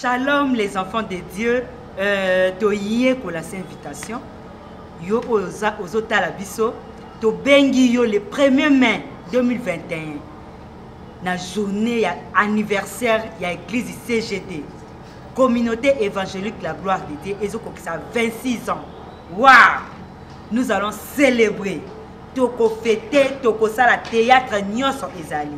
Shalom les enfants de Dieu euh, toyekola sa invitation yo oyo ozotala biso tobengi yo le premier mai 2021 na journée ya anniversaire ya église cgt communauté évangélique la gloire de dieu ezokokisa 26 ans wa wow! nous allons célébrer tokofete tokosala théâtre nyonso ezali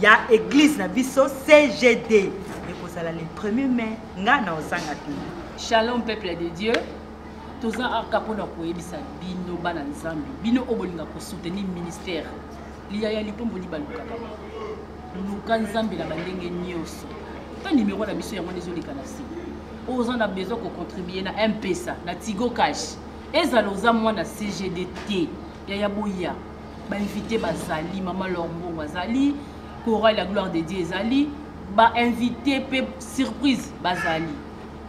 ya eglise na biso cgd ekozala le 1er mai ngai na ozanga te shalom peuple de dieu toza aka mpona koyebisa bino bana nzambe bino oyo bolinga kosoutenir ministère liyaya lipombo libalukaka luka nzambe na bandenge nyonso ta nimero na biso yango nde ezoleka na se oza na besoin kocontribue na mpesa na tigo cash ezala oza mwana cgd te yaya boya bainvité bazali mama lor mbongo azali coral ya gloire de dieu ezali bainvité mpe surprise bazali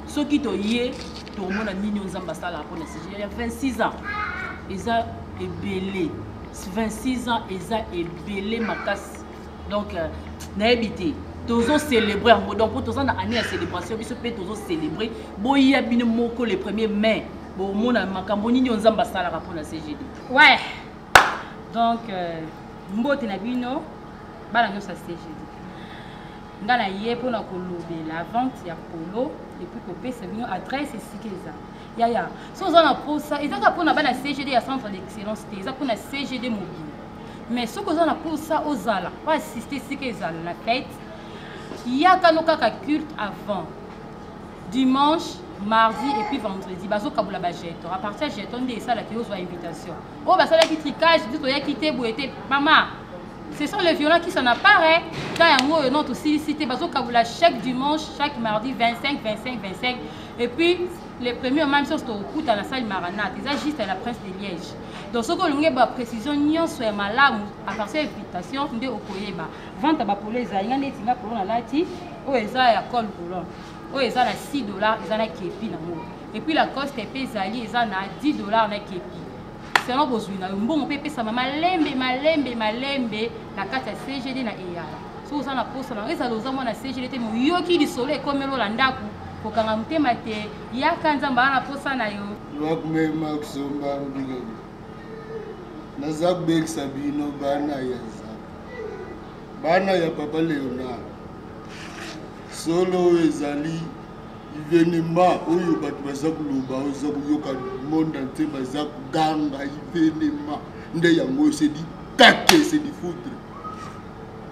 soki toye tokomona nini oyo nzambe asalaka mpo na sije ya 26 ans eza ebele 26 ans eza ebele makasi donc euh, nayebi te tozo célébrer yango donc mpo toza na année ya célébration biso mpe tozo célébrer boya bino moko le premier mai bomona makambo nini oyo nzambe asalaka mpo na cgd Ouais. Donc, euh, mbote na bino, bana nyoso ya CGD. Nga na ye mpo na kolobela vente ya polo epuis kopesa bino adresse esika eza. Yaya, so oza na mposa, eza kaka mpo na bana CGD ya centre d'excellence te, eza mpo na CGD mobile. Mais soki oza na mposa ozala, oasiste esika ezala na fete, yaka no kaka culte avant. dimanche mardi et puis vendredi bazokabola bajeton apartir ya jeton nde esalaki ozwa invitation oyo oh, basalaki tricage biso toyaki te boye te mama ce sont les violents qui s'en apparaît ta yango oyo non tosilisi te bazokabola chaque dimanche chaque mardi 25 25 25 et puis le premier mama biso tokokuta na sale maranate eza juste la prince de liège donc soki olongi baprécision nyonso ya malamu apartir ya invitation nde okoyeba vente ya bapolo ezali nga neti nga polo nalati oyo eza ya col boulon oyo eza na 6 dollars eza na kepi na ngo epuis lacoste mpe ezali eza na 10 dollars na kepi selon bozwi na yo mbongo mpe epesama malembe malembe malembe na kati ya cgd na eyala soki oza na mposa na ezala oza mwana cgd te moyoki lisolo ekomelola ndako kokanga motema te yaka nzambe aa na mposa na yo wakumema kusomba mbikani naza kubekisa bino bana ya Bana ya Papa Leonard, solo oyo ezali ivenema oyo bato baza koloba oza koyoka monde entier baza koganga ivenema nde yango oyo sedi kake sedi foutre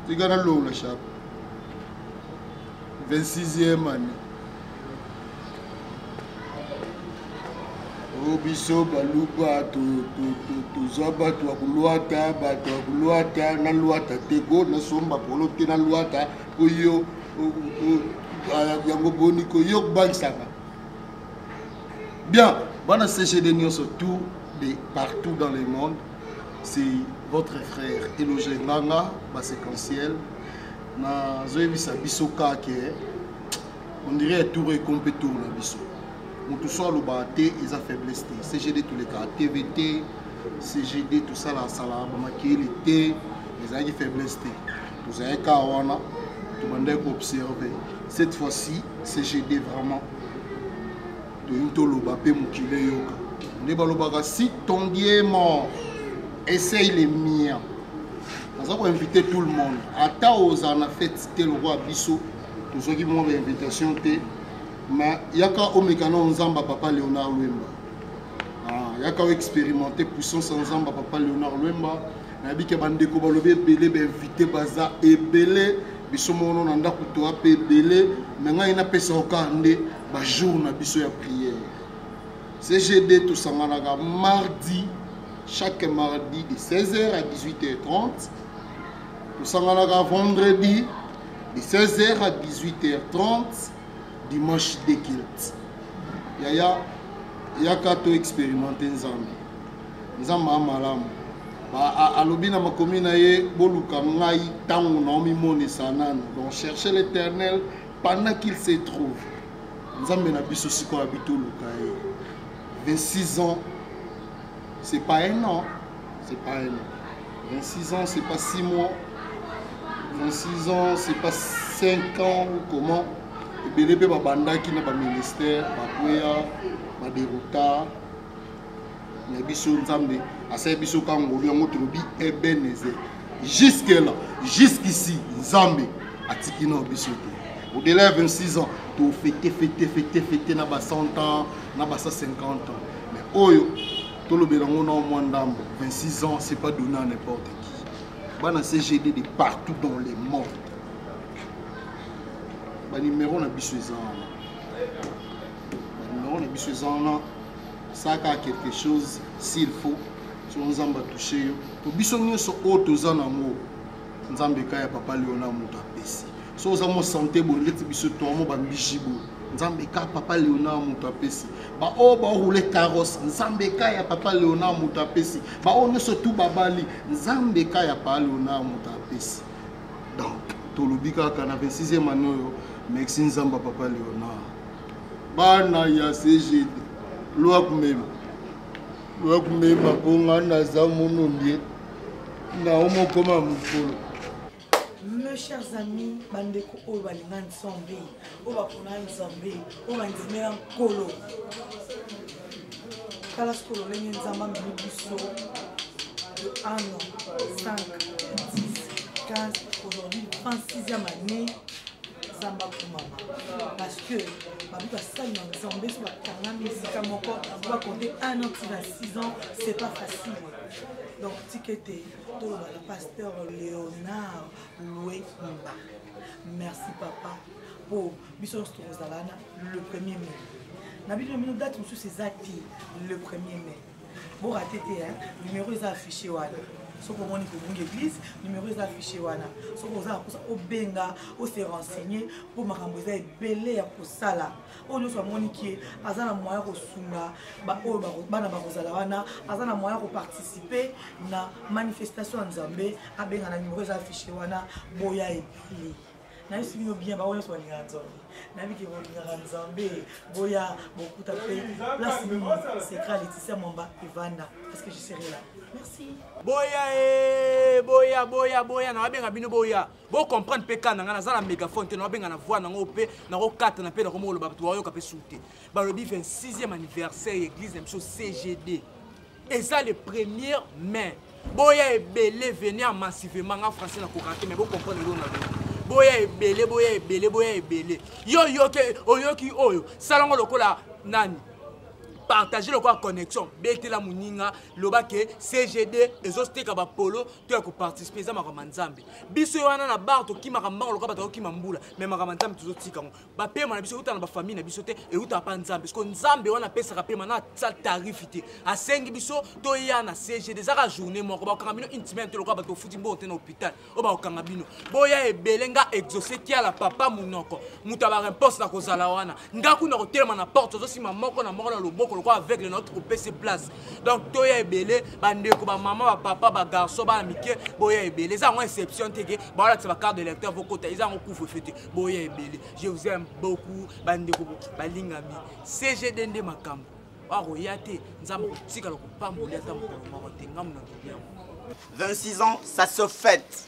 tika nalongola chape 26e année o biso baluba toza bato ya kolwata bato ya kolwata na lwata te ko nasomba polo te na lwata po yo yango boni ko yo kobangisaka bien bana cgd nyonso tout de partout dans le monde c'est votre frère eloge nganga baséquentiel nazoyebisa biso kake on dirait tour eko mpe tour na biso moto so alobaka te eza faiblesse te cgd tolekaka tv te cgd tosalasalaka bamakeli te ezalaki faiblesse te tozalaki kaka wana tobandaki koobserve cette fois-ci cgd vraiment toyini toloba mpe mokili eyoka nde balobaka si ton dieu mort essaye le mien naza koinvite tout le monde ata ozala na fete te lokola biso tozwaki mwa ba invitation te ma yaka omeka na nzamba papa léonard lwemba ah, yaka oexpérimente puissance ya nzamba papa léonard lwemba nayebi ke bandeko balobi ebele bainvite baza ebele biso mono na ndako toa mpe ebele me ngai napesa okar nde bajour na biso ya prière cgd tosanganaka mardi chaque mardi de 16h à 18h30 tosanganaka vendredi de 16h à 18h30 dimanche de culte yaya yaka to expérimente nzambe nzambe amalamu alobi na makomi na ye boluka ngai ntango naomimonisa nanu donc cherche l'éternel pendant qu'il se trouve nzambe na biso sikoyo abitoluka ye 26 ans C'est pas un an. C'est pas un an. 26 ans, c'est pas 6 mois. 26 ans, c'est pas 5 ans ou comment. ebele mpe babandaki na baministère bakweya baderuta na biso nzambe asali biso ka ngolu yango tolobi ebeneze jusque là jusqu'ici nzambe atiki na biso te au-delà ya 26 ans tofete fete fete fete na ba 100 ans na ba 150 ans mais oyo tolobela ngo na mwa ndambo 26 ans c'est pas donné à n'importe qui bana cgd de partout dans le monde banimero na biso eza wana banimero na biso eza wana saka quelque chose s'il faut soki nzambe atouche yo to biso nyonso oyo toza nango nzambe ekai ya papa leona moto apesi so oza mo sante boye ndeti biso toamo bambiji boye nzambe ekai ya papa leona moto apesi baoyo baroule carrosse nzambe ekai ya papa leona moto apesi baoyo nyonso tu babali nzambe ekai ya papa leona moto apesi donc tolobi kaka na 26e ane oyo merci nzambe ya papa leona bana ya cgd lwa kumema lwa kumema mpo ngai naza mono ndie naomokoma mokolo mes chers amis bandeko oyo balinga nzambe oyo bapona nzambe oyo bandimela nkolo tala soki ololenge nzambe amemi biso de 1 an 5 10 15 aujourd'hui 26e année nzambe akomama parce que babi basali na nzambe so bakangami esika moko bakonte 1 an ti na 6 ans c'est pas facile donc tika ete toloba na pasteur léonard luemba merci papa mpo biso nyonso tokozala wana le premier mai na bino bino date mosusu eza te le premier mai borate te numero eza affiché wana soki omoni kobunga église numero eza affiché wana soki oza na kosa obenga ose renseigner mpo makambo eza ebele ya kosala oyo nyonso amoni ke aza na moyen kosunga baoyo bana bakozala wana aza na moyen koparticipe na manifestation ya nzambe abenga na nimero eza affiche wana boya ebele nayebisi bino bien bango nyonso balingaka nzambe nayebi ke bolingaka nzambe boya bokuta mpe place nini secret leticia mwamba evanda parce que je serai là merci boya e boya boya boya nawabenga bino boya bo comprendre mpe kaka na ngai naza na mégaphone te naobenga na voix nango mpe nakokatana mpe nakomi koloba bato bayoka mpe su te balobi 26e anniversaire ya église na biso cgd eza le premier mai boya ebele veni en massivement nga français nakokaka te mais bocomprendre eloo na bino boya ebele boya ebele boya ebele yo oyoki oyoki oyo salango lokola nani partage lokola connexion betela moninga loba ke cgd ezoteka bapolo to ya koparticipe eza makambo ya nzambe biso ye wana na bar tokimaka mbango lokola bato akokima mbula me makambo ya nzambe tozotika yango bapema na biso euta na bafamille na biso te eutaka mpa nzambe siko nzambe wana apesaka pema na sa tarifi te asengi biso toya na cgd ezaka journée moko bakokanga bino une semaine te lokola bato ofuti mbongo te na hôpital oyo bakokanga bino boya ebele nga exauce kiala papa monoko moto ya baremponse na kozala wana nga kuna kotelema na porte tozosima moko na moko na loboko lokola aveugle na tokopesi place donc toya ebele bandeko bamama bapapa bagarçon bana mike boya ebele eza yango exception te ke baolakisa bacarte de lecteur vokota eza yango couvre feu te boya ebele je vous aime beaucoup bandeko balingami cgd nde makambo akoya te nzambe akotikala kopambolia ata mokolo moko te ngambo na kiliango 26 ans ça se fête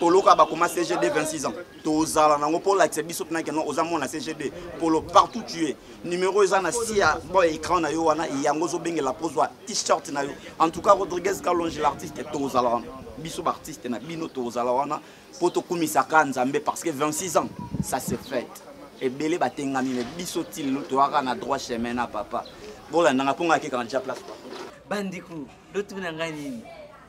polo kaka bakoma cgd 26 ans tozala nango mpo olakisa biso mpena keno oza mwana cgd polo partout tu es numero eza na si ya bo écran na yo wana yango ozobengela mpo ozwa t-shirt na yo en tout cas rodriguez kalonge l'artiste tozala wana biso baartiste na bino tozala wana mpo tokumisaka nzambe parce que 26 ans ça se fête ebele batengami me biso ti lelo toyaka na droit chemin na papa bolandanga mpo ngai akekaka nja place bandeko lotuna ngai nini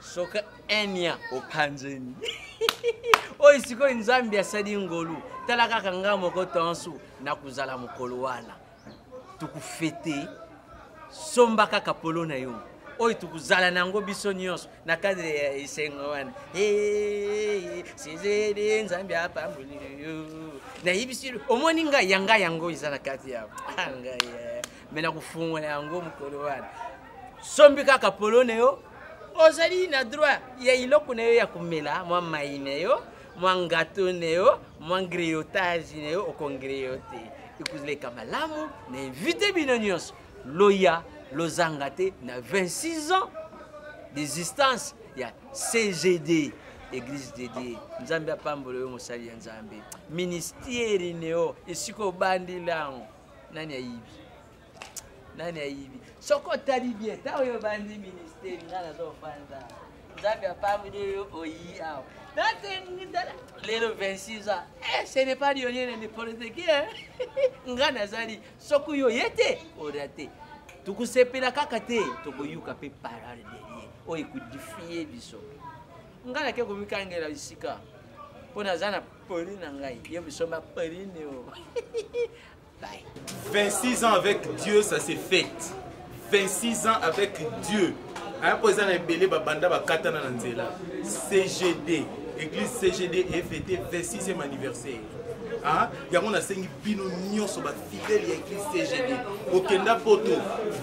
soki enia opanzeni oyo sikoyo nzambe asali ngolu tala kaka ngai moko tonso nakozala mokolo wana tokofete somba kaka polo na yo oyo tokozala na yango biso nyonso na kadre ya esengo wana sizele nzambe apamboli yo nayebisi omoni ngai yanga yango eza na kati ya ngai eh. me nakofungola yango mokolo wana sombi kaka polo na yo ozali na droit ya iloko na yo ya komela mwa mai na yo mwa ngato na yo mwa griotage na yo okongriote ekozaleka malamu na invite bino nyonso loya lozanga te na 26 ans d'existence ya cgd église de dieu nzambe apambola yo mosali ya nzambe ministeri neo esika obandi lango nani ayibi nani ayibi soki otali bien ntango yo obandi ministeri nga nazofanda nzambe apamboli oyo oyi awa natengitala lelo 26 ans eh, ce n'est pas lionye na n'importe qui nga nazali soki yo ye te oda te tokusepela kaka te tokoyoka mpe parole de ye oyo ekodifie biso nga nake komikangela bisika mpo naza na poli na ngai yo misomba poli neo 26 ans avec Dieu, ça s'est fait. 26 ans avec Dieu. aya mpo eza na ebele babanda bakatana na nzela cgd église cgd efete 26e anniversaire Ah, yango nasengi bino nyonso bafidele ya église cgd okenda poto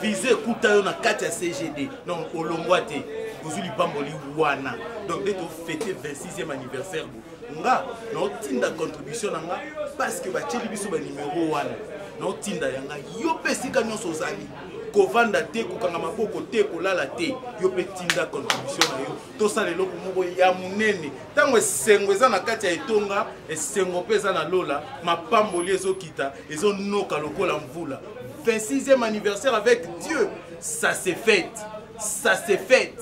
vise ekuta yo na kati ya cgd donc olongwa te ozwi lipamboli wana donc nde tofete 26e anniversaire nga naotinda contribution na nga parceke batyeli biso banimero wana naotinda ya nga yo mpe esika nyonso ozali kovanda te kokanga maboko te kolala te yo mpe tinda contribution na yo tosala eloko moko ya monene ntango esengo eza na kati ya etonga esengo mpe eza na lola mapamboli ezokita ezonoka lokola mvula 26e anniversaire avec dieu ça se fête ça se fête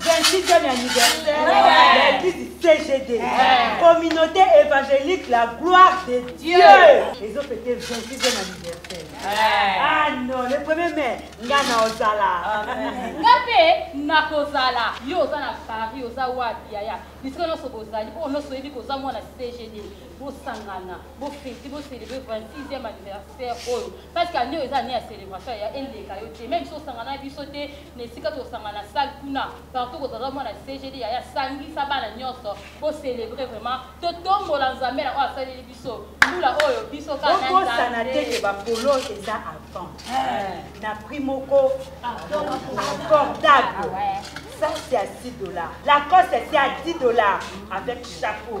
26e anniversaire ya eglise CGD, communauté évangélique la gloire de Dieu. Ils ont fêté 26e anniversaire. Ah non, le premier mai, nga na ozala. Nga pe nakozala. Yo oza na Paris, oza wapi yaya? Bisika nyonso bozali, oyo nyonso oyebi koza mwana CGD. bosangana bofeti bocelebre 26e anniversaire oyo parce que année oyo eza année ya célébration ya eleka yo te meme biso osangana biso te na esika tosanga na salle kuna partout kozala mwana cgd yaya sangisa bana nyonso bocelebre vraiment totombola nzambe na oyo asaleli biso mbula oyo biso kakosana te ke bapolo eza avant eh. na prix moko abordable ça c'est à 6 dollars la coste c'est à 10 dollars avec chapeau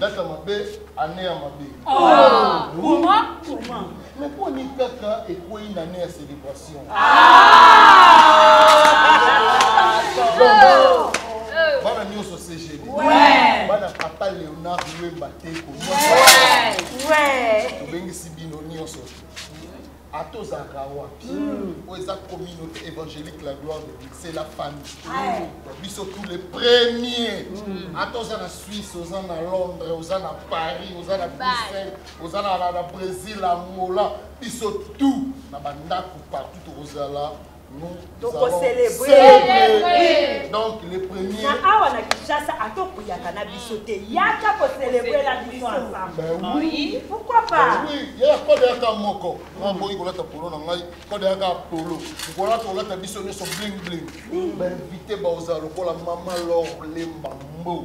data mabe ane ya mabe me boni kaka ekwei na ane ya célébration bana nyonso cgd bana papa léonard wemba te kobengisi bino nyonso ata ozalaka wapi hmm. oyo eza communauté évangélique la gloire de dieu c'est la famille hmm. biso tous les premiers hmm. ata oza na suisse oza na londres oza na paris oza na bruxelles oza na brésil angola biso tout na bandako partout tokozala awa na kinshasa atokuyaka na biso te yaka kocelebre na biso ensembleyaka moko naboyi kolata polo na ngai kodeyaka polo kolata kolata biso nyonso bling bling bainvite baoza lokola mama lor lemba mbo